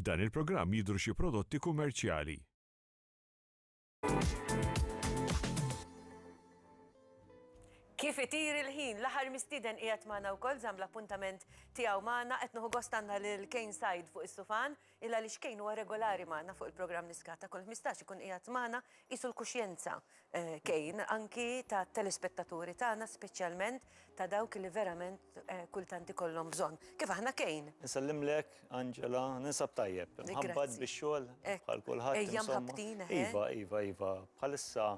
F'dan il-programm jidhru xi prodotti kummerċjali. Kif itir il-ħin, l-aħħar mistieden qiegħed magħna wkoll żamm l-appuntament tiegħu magħna qed nieħu gost għandna lil Kane Said fuq is-sufan. Illa għaliex Kane huwa regolari magħna fuq il-programm Niskah ta' kull ħmistax ikun qiegħed magħna qisu l-kuxjenza Kane anki tat-telespettaturi tagħna speċjalment ta' dawk li verament kultant ikollhom bżonn. Kif aħna Kane. Insellimlek Angela, ninsab tajjeb, imħabbat bix-xogħol bħal kulħadd insomma. Ejja mħabbtin eħe. Iva, iva, iva, bħalissa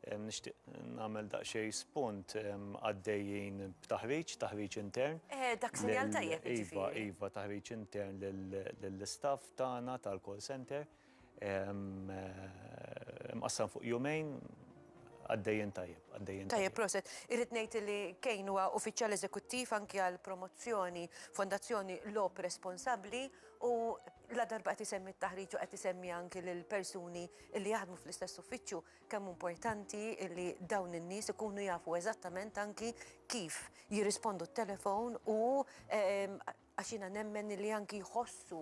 Nixtieq nagħmel daqsxejn spunt għaddejjin b'taħriġ, taħriġ intern. Eh, dak sinjal tajjeb. Iva, iva, taħriġ intern lill-istaff tagħna tal-call center. Eh, mqassam fuq jumejn, għaddejjen tajjeb, għaddejjen. Tajjeb, proset. Irrid ngħid li kejn huwa uffiċjal eżekuttiv anki għal promozzjoni Fondazzjoni Lop Responsabbli u ladarba qed isemmi t-taħriġ u qed isemmi anki lil persuni li jaħdmu fl-istess uffiċċju, kemm importanti li dawn in-nies ikunu jafu eżattament anki kif jirrispondu t-telefon u għax jiena nemmen li anki jħossu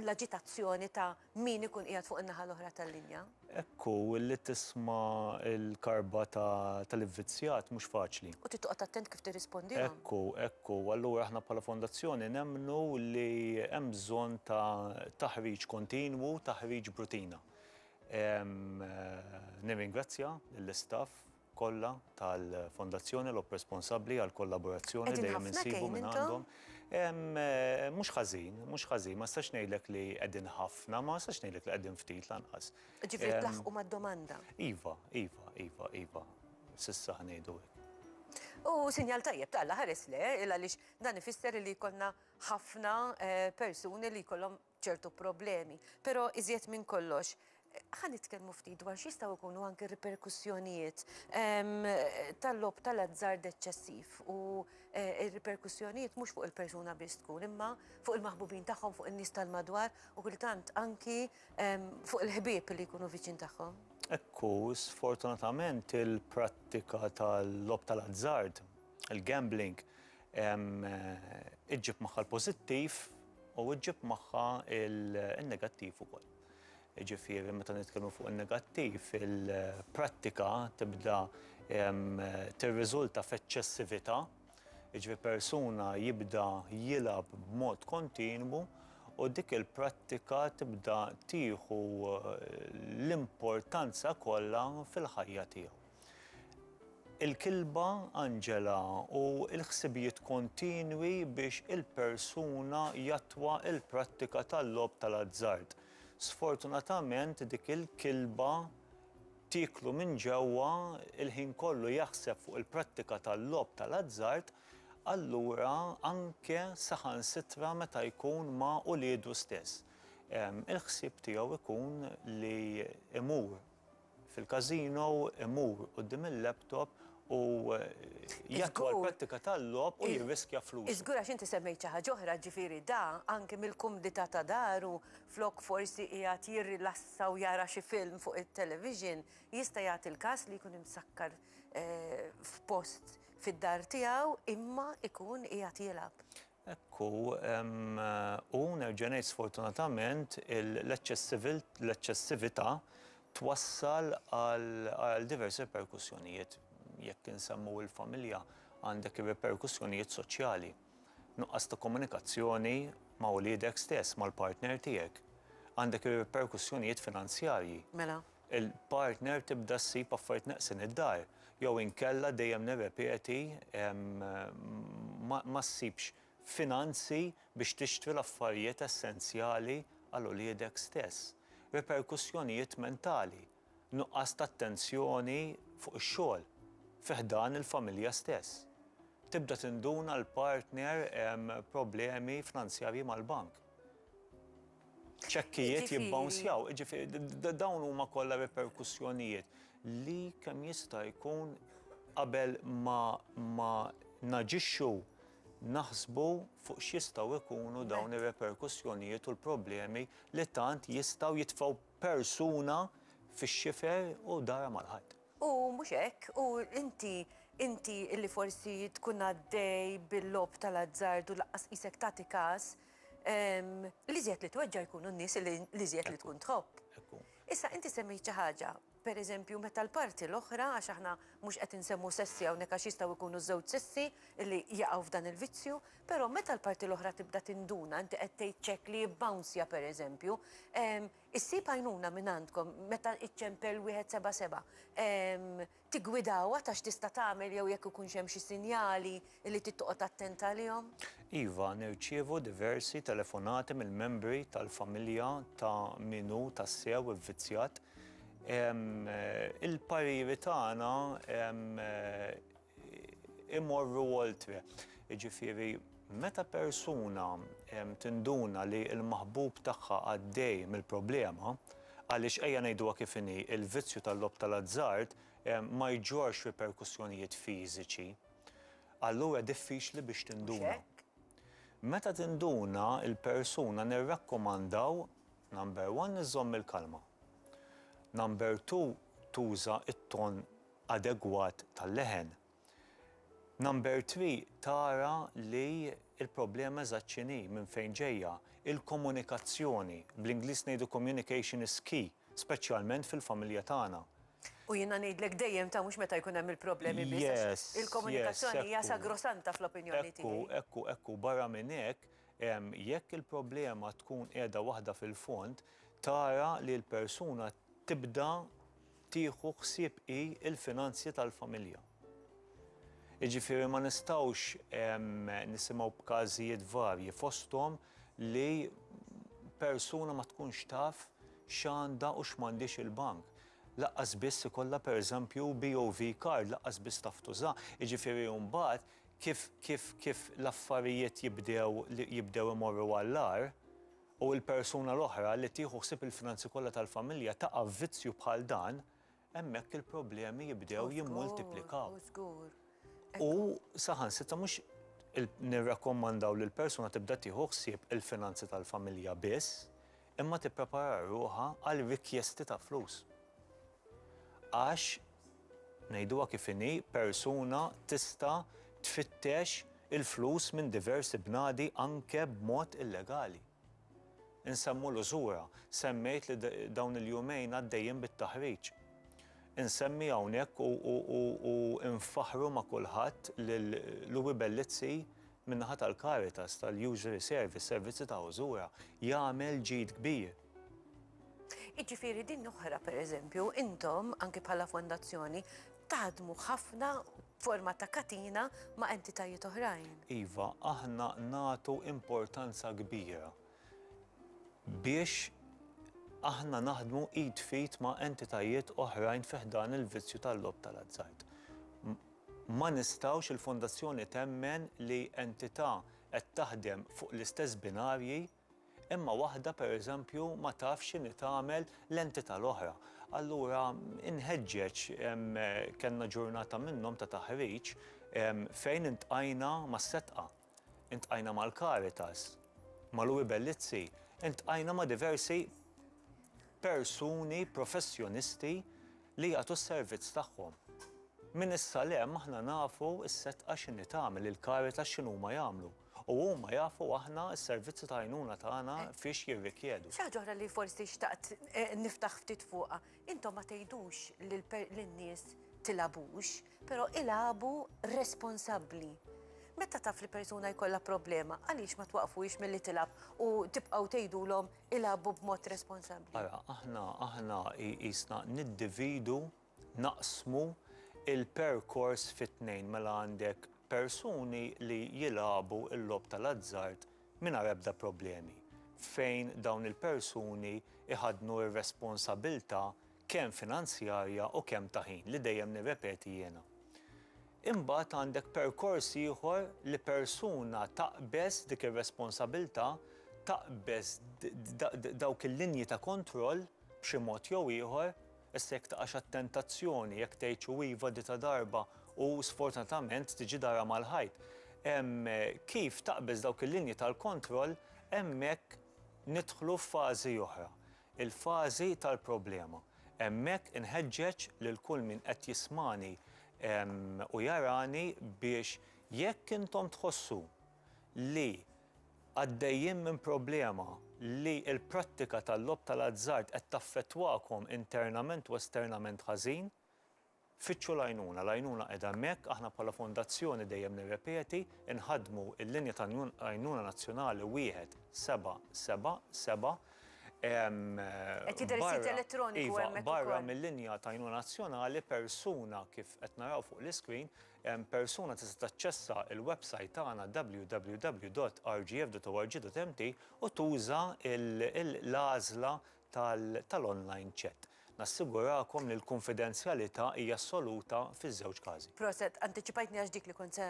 l-aġitazzjoni ta' min ikun qiegħed fuq in-naħa l-oħra tal-linja. Hekk hu, li tisma' l-karba tal-ivvizzjat mhux faċli. U trid toqgħod attent kif tirrispondilhom. Hekk hu, hekk hu. Allura aħna bħala Fondazzjoni nemmnu li hemm bżonn ta' taħriġ kontinwu, taħriġ b'rutina. Nirringrazzja lill-istaff. kollha tal-Fondazzjoni l responsabbli għall-kollaborazzjoni dejjem insibu minn għandhom. Mhux ħażin, mhux ħażin, ma nistax ngħidlek li qegħdin ħafna, ma nistax ngħidlek li qegħdin ftit lanqas. Ġifieri tlaħħqu mad-domanda. Iva, iva, iva, iva. S'issa ħa ngħidu hekk. U sinjal tajjeb ta' Alla ħares le, għaliex dan ifisser li jkollna ħafna persuni li jkollhom ċertu problemi. Però iżjed minn kollox, ħa nitkellmu ftit dwar x'jistgħu jkunu anke riperkussjonijiet ehm, tal-lob tal-azzard eċċessiv u eh, riperkussjonijiet mhux fuq il-persuna biss tkun imma fuq il-maħbubin tagħhom, fuq in-nies tal-madwar u kultant anki ehm, fuq il-ħbieb li jkunu viċin tagħhom. Ekku, sfortunatament il-prattika tal-lob tal-azzard, il-gambling, Iġġib magħha l-pożittiv u iġġib magħha n-negattiv ukoll. Jiġifieri meta nitkellmu fuq in-negattiv, il-prattika tibda tirriżulta f'eċċessività, jiġifieri persuna jibda jilgħab b'mod kontinwu u dik il-prattika tibda tieħu l-importanza kollha fil-ħajja tiegħu. il-kilba Angela u l-ħsibijiet kontinwi biex il-persuna jattwa l-prattika tal-logħob tal-azzard. Sfortunatament dik il-kilba tieklu minn ġewwa, il-ħin kollu jaħseb fuq il-prattika tal-logħob tal-azzard, allura anke saħansitra meta jkun ma' uliedu stess, il-ħsieb tiegħu jkun li jmur fil-każino, imur quddiem il-laptop u jattwa l-prattika tal-logħob u jirriskja flusu. Żgur għax inti semmejt xi ħaġa oħra, ġifieri da anke mill-kumdità ta' daru flok forsi qiegħed jirrilassa u jara xi film fuq it-television, jista' jagħti l-każ li jkun imsakkar f'post fid-dar tiegħu imma jkun qiegħed jilgħab. Hekk hu, u nerġa' ngħid sfortunatament, l-eċċessività twassal għal diversi riperkussjonijiet. Jekk insemmu l-familja, għandek ir-riperkussjonijiet soċjali. Nuqqas ta' komunikazzjoni ma' uliedek stess, mal-partner tiegħek. Għandek ir-riperkussjonijiet finanzjarji. Mela, il-partner tibda ssib affarijiet neqsin id-dar jew inkella dejjem nirrepeti ma ssibx finanzi biex tixtri l-affarijiet essenzjali għal uliedek stess. Riperkussjonijiet mentali, nuqqas ta' attenzjoni fuq ix-xogħol, fi ħdan il-familja stess. Tibda tinduna l-partner problemi fnanzjarji mal-bank. ċekkijiet jibbawnzjaw, jiġifieri dawn huma kollha riperkussjonijiet li kemm jista' jkun qabel ma naġixxu naħsbu fuq x'jistgħu jkunu dawn ir-riperkussjonijiet u l-problemi li tant jistgħu jitfgħu persuna fix-xifer u darha mal-ħajt. U mhux hekk, u inti, inti li forsi tkun għaddej bil-logħob tal-azzard u lanqas qisek tagħti kas, L-iżjed li tweġġa' jkunu n-nies li l-iżjed li tkun tħobb. Issa inti semmejt xi ħaġa, pereżempju meta l-parti l-oħra għax aħna mhux qed insemmu sessi hawnhekk għax jistgħu jkunu ż-żewġ sessi li jaqgħu f'dan il-vizzju, però meta l-parti l-oħra tibda tinduna, inti qed tgħid ċekk li jibbawnsja pereżempju, issib għajnuna mingħandkom meta iċċempel wieħed seba' seba'. Tiggwidawha ta' x'tista' tagħmel jew jekk ikunx hemm xi sinjali li trid toqgħod attent għalihom? Iva, nirċievu diversi telefonati mill-membri tal-familja ta' min hu tassew ivvizzjat. Il-pariri tagħna imorru oltre, jiġifieri, Meta persuna tinduna li l-maħbub tagħha għaddej mill-problema, għaliex ejja ngħiduha kif inhi, il-vizzju tal-logħob tal-azzard ma jġorrx riperkussjonijiet fiżiċi, allura diffiċli biex tinduna. Meta tinduna l-persuna nirrakkomandaw, number one, iżżomm il-kalma. Number two, tuża t-ton adegwat tal-leħen. Number three tara li l-problema eżatt x'inhi, minn fejn ġejja, il-komunikazzjoni, bl-Ingliż ngħidu communication is key, speċjalment fil-familja tagħna. U jiena ngħidlek dejjem ta' mhux meta jkun hemm il-problemi biss għax il-komunikazzjoni hija sagrosanta fl-opinjoni tiegħi. Ekku, ekku, ekku, barra minn hekk, jekk il-problema tkun qiegħda waħda fil-fond, tara li l-persuna tibda tieħu ħsieb hi l-finanzji tal-familja. Jiġifieri ma nistgħux nisimgħu b'każijiet varji fosthom li persuna ma tkunx taf x'għandha u x'm'għandhiex il-bank. Laqqas biss ikollha pereżempju BOV card, laqqas biss taf tuża. Jiġifieri mbagħad kif kif kif l-affarijiet jibdew jibdew imorru għall-agħar, u l-persuna l-oħra li tieħu ħsieb il-finanzi kollha tal-familja taqa' f'vizzju bħal dan, hemmhekk il-problemi jibdew jimmultiplikaw. U saħansitra mhux nirrakkomandaw li l-persuna tibda tieħu ħsieb il-finanzi tal-familja biss, imma tipprepara ruħha għal rikjesti ta' flus. Għax Ngħiduha kif inhi, persuna tista' tfittex il-flus minn diversi bnadi anke b'mod illegali. Insemmu l-użura, semmejt li dawn il-jumejn għaddejjin bit-taħriġ. Insemmi hawnhekk u nfaħħru ma' kulħadd lil Louie Bellizzi min-naħa tal-Caritas, tal-Usury Service, servizzi ta' użura, jagħmel ġid kbir. Jiġifieri din l-oħra pereżempju intom anki bħala fondazzjoni taħdmu ħafna forma ta' katina ma' entitajiet oħrajn. Iva, aħna nagħtu importanza kbira biex aħna naħdmu id f'id ma' entitajiet oħrajn fi ħdan il-vizzju tal-logħob tal-azzard. Ma nistgħux, il-fondazzjoni temmen li entità qed taħdem fuq l-istess binarji, Imma waħda pereżempju ma tafx x'inhi tagħmel l-entità l-oħra. Allura inħeġġeġ, kellna ġurnata minnhom ta' taħriġ fejn iltqajna mas-Setqa, iltqajna mal-Caritas, ma' Louie Bellizzi, iltqajna ma' diversi persuni professjonisti li jagħtu s-servizz tagħhom. Minn issa 'l hemm aħna nafu s-Setqa x'inhi tagħmel, il-Caritas x'inhuma jagħmlu. U huma jafu aħna s-servizzi ta' għajnuna tagħna fiex jirrikjedu. Xi ħaġa oħra li forsi xtaqt niftaħ ftit fuqha, intom ma tgħidux lin-nies tilgħabux, però ilagħbu responsabbli. Meta taf li persuna jkollha problema, għaliex ma twaqqfuhiex milli tilgħab u tibqgħu tgħidulhom ilagħbu b'mod responsabbli? Ara, aħna, aħna qisna niddividu Naqsmu l-perkors fi tnejn mela għandek persuni li jilagħbu l-logħob tal-azzard mingħajr ebda problemi, fejn dawn il-persuni jħaddnu r-responsabilità kemm finanzjarja u kemm ta' ħin, li dejjem nirrepeti jiena. Imbagħad għandek perkors ieħor li persuna taqbeż dik ir-responsabilità, taqbeż dawk il-linji ta' kontroll b'xi mod jew ieħor, Issa jekk taqax għat-tentazzjoni, jekk tgħidxu iva dita darba u sfortunatament tiġi darha mal-ħajt. Hemm kif taqbeż dawk il-linji tal-kontroll, hemmhekk nidħlu f'fażi oħra, il-fażi tal-problema. Hemmhekk inħeġġeġ lil kull min qed jismagħni u jarani biex jekk intom tħossu li Għaddejjin minn problema li l-prattika tal-logħob tal-azzard qed taffettwakom internament u esternament ħażin? Fittxu l-għajnuna. L-għajnuna qiegħda hemmhekk. Aħna bħala Fondazzjoni, dejjem nirrepeti, inħaddmu l-linja ta' għajnuna nazzjonali 1777. Qed jidher is-sit elettroniku hemmhekk ukoll. Iva, barra mill-linja ta' għajnuna nazzjonali, persuna kif qed naraw fuq l-iscreen, Persuna tista' taċċessa l-websajt tagħna www.rgf.org.mt u tuża l-għażla tal-online chat. Nassigurakom li l-kunfidenzjalità hija assoluta fiż-żewġ każi. Proset, antiċipajtni għax dik li kont se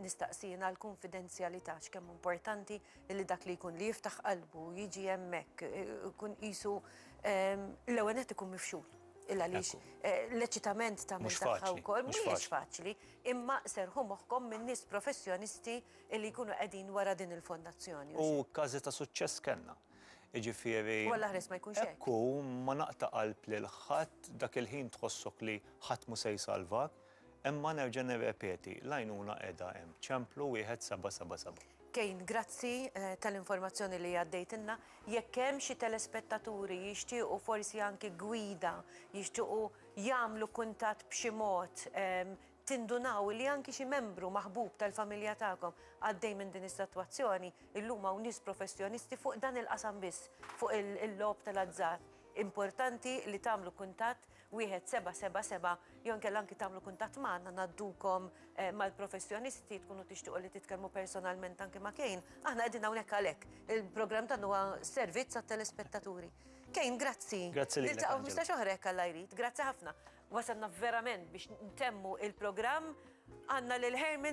nistaqsi jien għall-kunfidenzjalità x'kemm hu importanti li dak li jkun li jiftaħ qalbu jiġi hemmhekk ikun qisu l-ewwel nett ikun mifxul. Illa għaliex eh, l-eċitament ta' mhux faċli wkoll mhux faċli, imma serħu moħħkom minn nies professjonisti li jkunu qegħdin wara din il-fondazzjoni. U każi ta' suċċess kellna. Iġifieri. U l-aħres ma jkunx hekk. Ekku ma naqta' qalb lil ħadd dak il-ħin tħossok li ħadd mu se jsalvak. Imma nerġa' nirrepeti, l-għajnuna qiegħda hemm, Ċemplu 1777. Kane, grazzi tal-informazzjoni li għaddejtilna. Jekk hemm xi telespettaturi jixtiequ forsi anki gwida, jixtiequ jagħmlu kuntatt b'xi mod, tindunaw li anki xi membru maħbub tal-familja tagħkom għaddej minn din is-sitwazzjoni, illum hawn nies professjonisti fuq dan il-qasam biss, fuq il-logħob tal-azzard. Importanti li tagħmlu kuntatt 1777 jew inkella anki tagħmlu kuntatt magħna ngħaddukom eh, mal-professjonisti tkunu tixtiequ li titkellmu personalment anki ma' Kejn. Aħna qegħdin hawnhekk għalhekk. Il-programm tagħna huwa servizz għat-telespettaturi. Kejn, grazzi. Grazzi lilek. Niltaqgħu 15 oħra hekk alla jrid. Grazzi ħafna. Wasalna verament biex ntemmu il-programm għandna lil Herman